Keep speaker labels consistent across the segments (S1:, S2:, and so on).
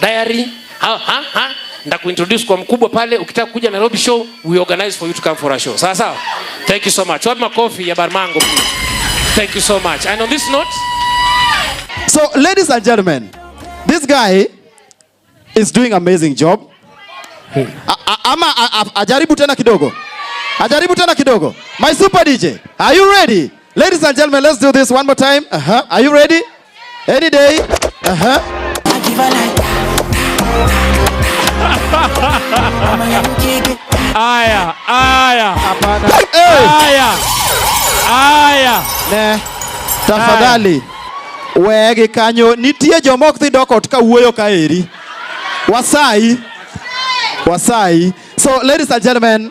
S1: diary ha ha ha ndakuintroduce kwa mkubwa pale, ukitaka kuja Nairobi show we organize for you to come for a show. Sawa sawa, thank you so much. Wapi makofi ya Barmango please? Thank you so much. And on this note,
S2: so ladies and gentlemen, this guy is doing amazing job. Hmm. Ama ajaribu tena kidogo, ajaribu tena kidogo. My super DJ, are you ready? Ladies and gentlemen, let's do this one more time. Uh -huh. Are you ready? Any day. Uh -huh. Aya, aya. Hapana. Aya. Aya. Ne. Tafadhali. Wegi kanyo nitie joma ok dhi dok ot ka wuoyo ka eri. Wasai. Wasai. So ladies and gentlemen,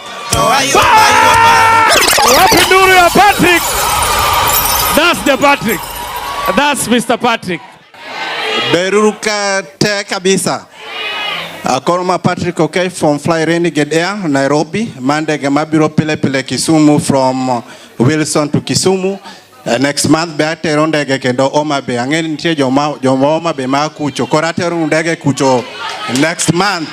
S2: Wapi nduru ya Patrick? That's the Patrick. That's Mr. Patrick. Beruruka
S3: te kabisa. Akoroma Patrick okay from Fly Renegade Air Nairobi. Mande mabiro pile pile Kisumu from Wilson to Kisumu. Uh, next month be atero ndege kendo Homa Bay. Ang'e nitie joma joma Homa Bay ma kucho. Koro atero ndege kucho next month.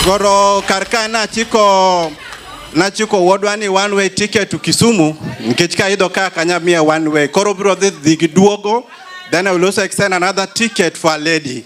S3: Koro kar ka nachiko nachiko wuodwa ni one way ticket to Kisumu nikech ka idho ka kanya miya one way. Koro biro dhi dhi gi duogo then I will also extend another ticket for a lady.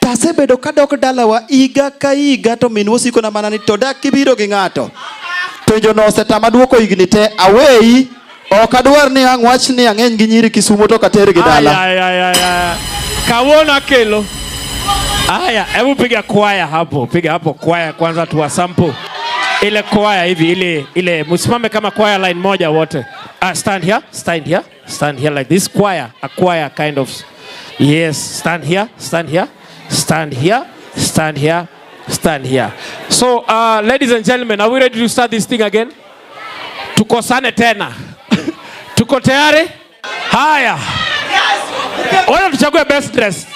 S2: To asebedo kadok dalawa higa ka higa to minwa osikona mana ni to dak kibiro gi ng'ato. Penjono osetama dwoko higni te aweyi ok adwar ni ang' wach ni ang'eny gi nyiri Kisumo to kater gi dala. Ay, ay, ay, ay. Kawuono
S1: akelo. Haya, hebu piga kwaya hapo, piga hapo kwaya kwanza tuwa sample. Ile kwaya hivi ile ile msimame kama kwaya line moja wote. Ah, stand here, stand here. Stand here like this choir, a choir kind of. Yes, stand here, stand here, stand here, stand here, stand here. So, uh, ladies and gentlemen, are we ready to start this thing again? Tukosane tena. Tuko tayari? Haya. Wala tuchague best dress.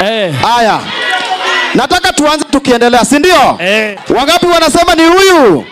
S2: Eh. Haya. Nataka tuanze tukiendelea, si ndio? Eh. Wangapi wanasema ni huyu?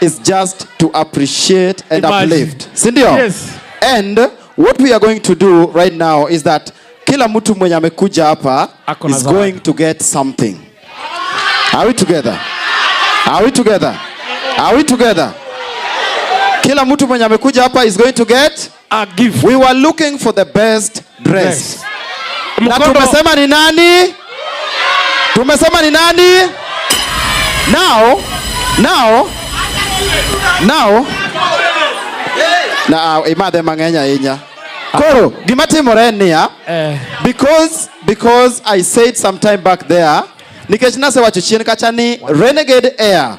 S2: is just to appreciate and Imagine. uplift. Si ndio? Yes. And what we are going to do right now is that kila mtu mwenye amekuja hapa is going to get something. Are we together? Are we together? Are we together? Kila mtu mwenye amekuja hapa is going to get a gift. We were
S1: looking for the
S2: best dress. Yes. Na tumesema ni nani? Tumesema ni nani? Now, now, now, na imadhe mang'eny ahinya koro gima timore en niya eh. because because i said some time back there nikech nasewacho chien kacha ni renegade air